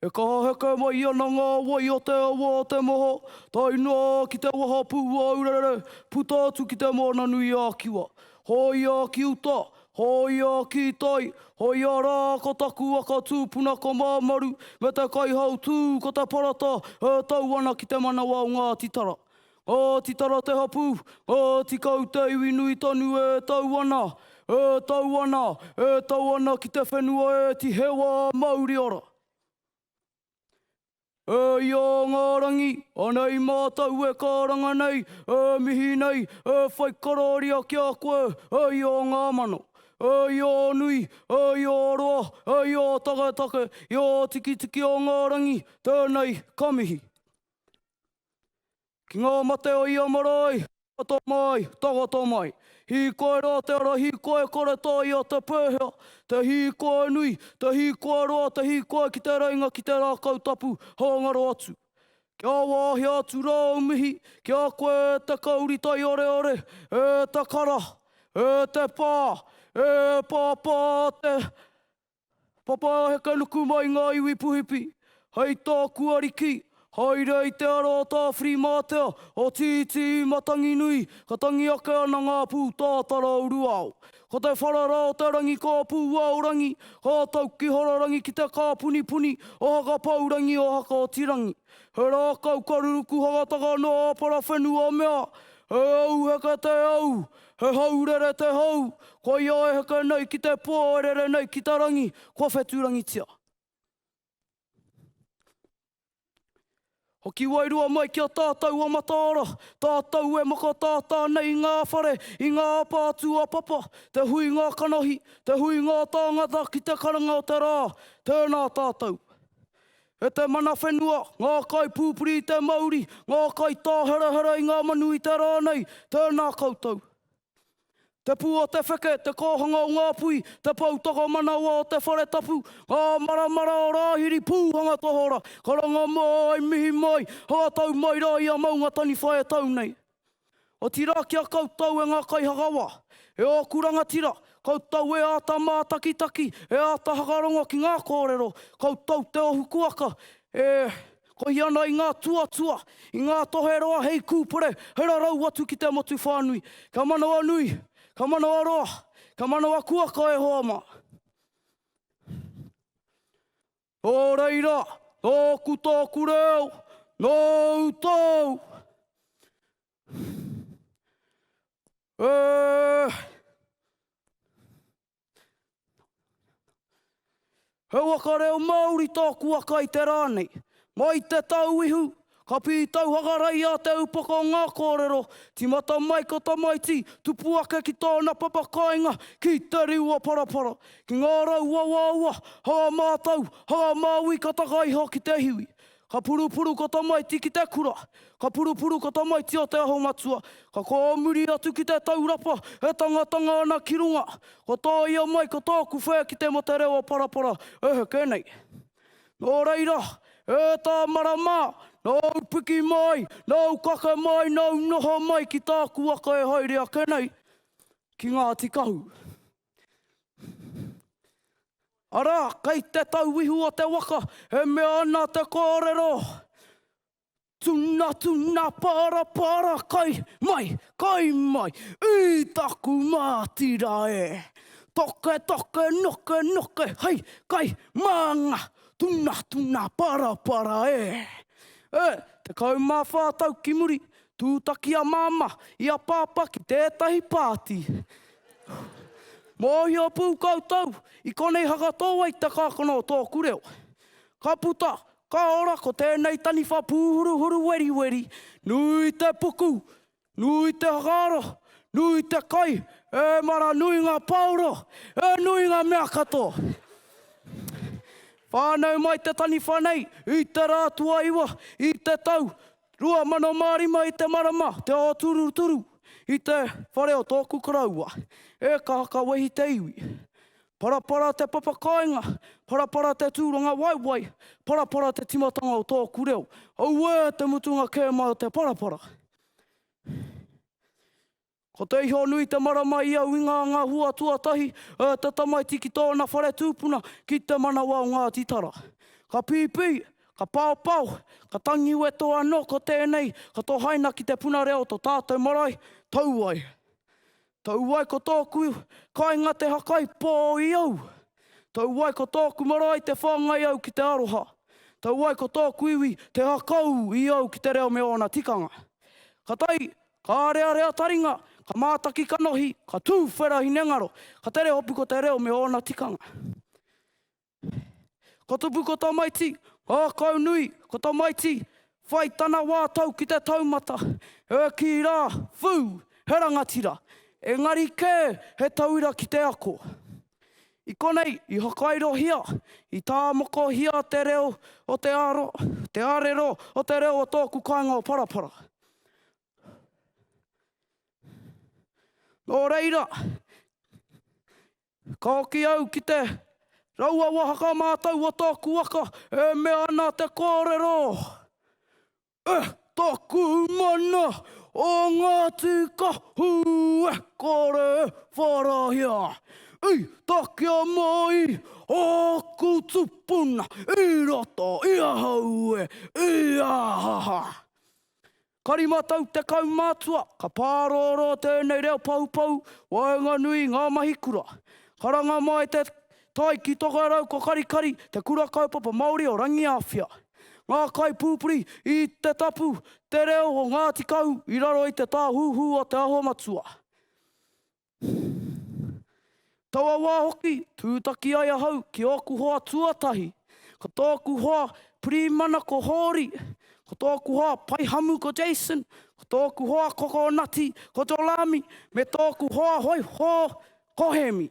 E kaha heke mai ana ngā wai o te awa o te moho, tae noa ki te wahapū ōurarere, puta atu ki Te Moana-nui-a-Kiwa. Hōia ki uta, hōia ki tai, hōia rā ko taku aka tūpuna ko Māmaru me te kaihautū ko Te Parata e tau ana ki te manawa o Ngāti Tara. Oti tara te hapu, oti kau te iwi nui tonu e tau ana, e tau ana, e tau ana ki te whenua e ti hewa mauri ora. E ia nga rangi, anei matou e karanga nei, e mihi nei, e whai kararia ki a koe, e ia o nga mano, e ia o nui, e ia o roa, e ia o taketake, ia o tikitiki o nga rangi, tenei ka mihi. Ki ngā mate o ia marae, tangata mai, tangata mai. Hīkoi rā te ara, hīkoi kore tō ia te pēhea, te hīkoi nui, te hīkoi roa, te hīkoi ki te reinga, ki te rākau tapu, hāngaro atu. Kia wāhia atu rā au mihi ki a koe e te kauri taioreore, e te kara, e te pā, e Pāpā te. Papa he kainuku mai ngā iwi puhipi hei tāku ariki, haere i te ara o Tāwhirimātea, o Tītī i Matanginui, ka tangi ake ana ngā pū tātara o Ruao. Ko te whara rā o te rangi ka Pūaorangi, ka tauki hararangi ki te kāpunipuni o Hakapaurangi o Hakaotirangi. He rākau ka ruruku hagataka noa a Parawhenua mea, E au heke te au, He hau rere te hau, koia e heke nei ki te pō e rere nei ki te rangi, kua wheturangitia. Hoki wairua mai ki a tātou a Mataara, tātou e makatātā nei i ngā whare, i ngā apa atu a Papa, te hui ngā kanohi, te hui ngā tāngata ki te karanga o te rā, tēnā tātou. E te mana whenua, ngā kaipūpuri i te mauri, ngā kaitāherahera i ngā manu i te rā nei, tēnā koutou. Te pū o te wheke, te kōhanga o ngā pui, te pou tokomanawa o te whare tapu, ngā maramara o Rāhiri, pūhanga tohora, karanga mō ai, mihi mai, hangatau mai rā i a Maunga Taniwha e tau nei. Otirā ki a koutou e ngā kaihakawa, e ōku rangatira, koutou e āta mātakitaki, e āta hakarongo ki ngā kōrero, koutou te ohu kuaka e kohi ana i ngā tuatua, i ngā tohe roa hei kūpere, hei rarau atu ki te motu whānui. Kia manawanui, kia manawaroa, kia manawakuaka e hoa mā. Nō reira, nōku tōku reo, nōu tōu. Eh. He waka reo Māori tōku waka i te rā nei. Mai te tau ihu, Ka pītau hakarai i a Te Upoko ngā kōrero, tīmata mai ko Tamaiti, tupu ake ki tōna papa kāinga, ki Te Riuaparapara, ki ngā rau uauaua, hanga mātau, hanga māui ka taka iho ki te hiwi. Ka purupuru ko Tamaiti ki te kura, ka purupuru ko Tamaiti o Te Aho Matua, ka kōmuri atu ki te taurapa e tangatanga ana ki runga, kua tōia mai ko tōku whē ki te mate rewa parapara e heke nei. Nō reira, e tā marama, nāu piki mai, nāu kake mai, nāu noho mai ki tāku waka e haere ake nei, ki Ngāti Kahu. Arā, kei te tauihu o te waka, e mea ana te kōrero, Tuna, tuna, para, para, kai mai, kai mai, i taku mātira e! Toke, toke, noke, noke, hei, kai, mā ngā tuna, tuna, para, para e! E, tekau mā whā tau ki muri, tūtaki a Māmā i a Pāpā ki tētahi pāti. Mōhio pū koutou, i konei haka tō wai te kākano o tōku reo. Ka puta, Ka ora ko tēnei taniwha pūhuruhuru weriweri, nui te puku, nui te whakaaro, nui te kai, ēmara nui ngā pāora, e nui ngā mea katoa. Whānau mai te taniwha nei i te rā tuaiwa i te tau 2005 i te marama te ōturuturu i te whare o tōku koroua, e ka hakawehi te iwi. Parapara te papakāinga, parapara te tūrangawaewae, parapara te timatanga o tōku reo. Auē te mutunga kē mai o te parapara. Ko te iho nui te marama i au i ngā ngā hua tuatahi e te tamaiti ki tōna whare tūpuna ki te manawa o Ngāti Tara. Ka pīpī, ka paopao, ka tangi weto anō ko tēnei ka tohaina ki te puna reo to tātou marae, Tauwae. Tau ai ko tōku kainga te hakaipō i au. Tau ai ko tōku marae te whāngai au ki te aroha. Tau ai ko tōku iwi te hakau i au ki te reo me ōna tikanga. Ka tae, ka arearea taringa, ka mātaki kanohi, ka tū whera hinengaro, ka tere hopu ko te reo me ōna tikanga. Ka tupu ko tamaiti, ngākau nui, ko tamaiti, whai tana wā tau ki te taumata, e kī rā, Whū! He rangatira! Engari kē, he tauira ki te ako. I konei, i whakairohia, i tāmokohia te reo o te aro, te arero o te reo o tōku kāinga o Parapara. Nō reira, Ka hoki au ki te raua wahaka mātau o tōku waka e mea ana te kōrero, E taku mana o ngā tīkahu e kore e whārahia, i takea mai āku tupuna i roto i ahau e, i a ha ha. Ka rima tau te kaumātua, ka pārōrō tēnei reo poupou, waenganui i ngā mahi kura. Karanga mai te tai ki Tokerau ko Karikari, te Kura Kaupapa Māori o Rangiāwhia. Ngā kaipūpuri i Te Tapu Te Reo o Ngāti Kahu i raro i te tāhuhu o Te Aho Matua. Taua wā hoki, tūtaki ai ahau ki ōku hoa tuatahi, ko tōku hoa pirīmana ko Hōri, ko tōku hoa paihamu ko Jason, ko tōku hoa kokonati ko Jolami, me tōku hoa hoihō ko Hemi.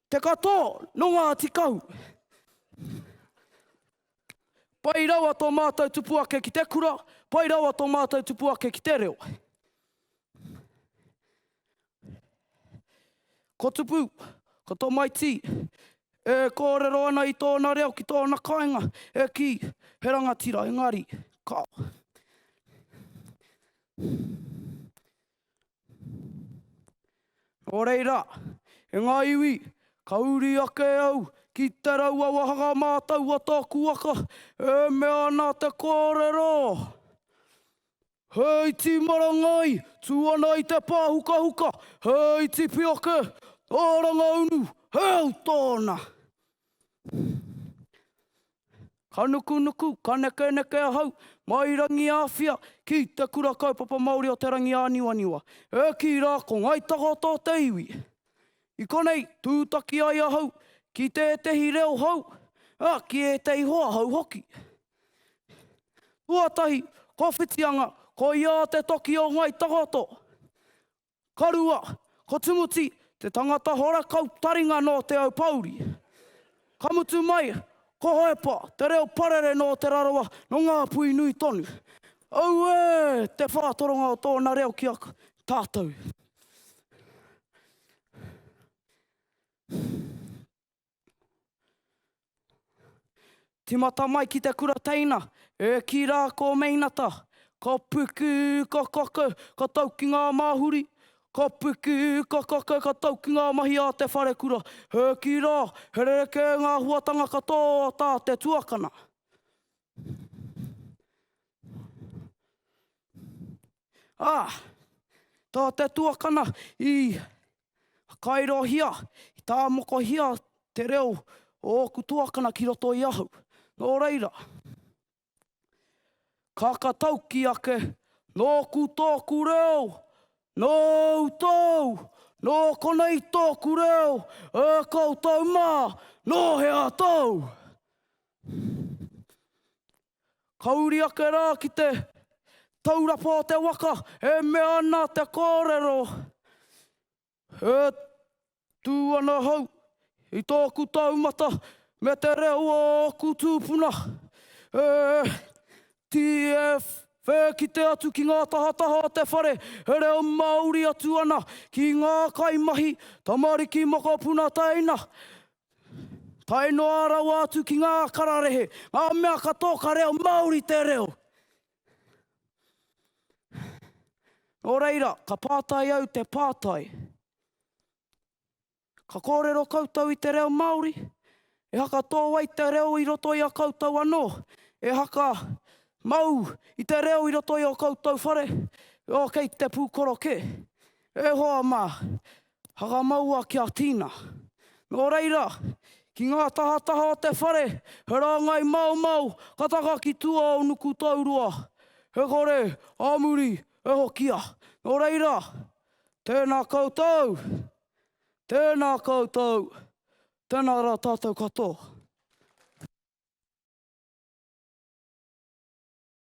Te katoa nō Ngāti Kahu. Pai rawa tō mātou tupu ake ki te kura, pai rawa tō mātou tupu ake ki te reo. Ko Tupu, ko tō Maitī, e kōrero ana i tōna reo ki tōna kāinga, e kī, he rangatira, engari, ka. Nō reira, e ngā iwi, ka uri ake au ki te raua wāhanga mātau a tōku waka, e mea ana te kōrero, He iti marangai, tū ana i te pāhukahuka, he iti pioke, ā Rangaunu, he au tōna. Ka nukunuku, ka nekeneke ahau, mai Rangiāwhia, ki Te Kura Kaupapa Māori o Te Rangiāniwaniwa, e kī rā ko Ngāi Takaata o te iwi. I konei, tūtaki ai ahau ki tētehi reo hou, ā, ki ētehi hoa hou hoki. Tuatahi, ko Whitianga, ko ia te toki o Ngāi Takaata. Ka rua, ko Tumuti te tangata horakau taringa nō Te Aupōuri. Ka mutu mai, ko Hoepa te reo parere nō Te Rarawa, nō Ngāpuhi nui tonu. Auē! Te whātoronga o tōna reo ki a tātou. Timata mai ki te kura teina, e ki ra ko meinata, ko puku ko koko ko tau ki nga mahuri, ko puku ko koko ko tau ki nga mahi a te wharekura, e ki ra, he rerekē nga huatanga kato a ta te tuakana. A, ta te tuakana i Whakairohia, i tāmokohia te reo o ōku tuakana ki roto i ahau. Nō reira, kāka tauki ake, nōku tōku reo, nōu tōu, nō konei tōku reo, ā koutou mā, nō hea tōu? Ka uri ake rā ki te taurapa o te waka e mea ana te kōrero, E tū ana ahau i tōku taumata me te reo o ōku tūpuna, e TF, e kite atu ki ngā tahataha o te whare e reo Māori atu ana ki ngā kaimahi, tamariki mokopuna teina, tae noa rawa atu ki ngā kararehe, ngā mea katoa ka reo Māori te reo. Nō reira, ka pātai au te pātai. Ka kōrero koutou i te reo Māori? E haka tō wai te reo i roto i a koutou anō? E haka mau i te reo i roto i o koutou whare? Ō, kei te pūkoro kē. E hoa mā, Hakamaua ki a Tina. Nō reira, ki ngā tahataha o te whare, he rāngai maumau ka taka ki tua o Nukutaurua, he kore a muri e hokia. Nō reira, tēnā koutou, tēnā koutou, tēnā rā tātou katoa.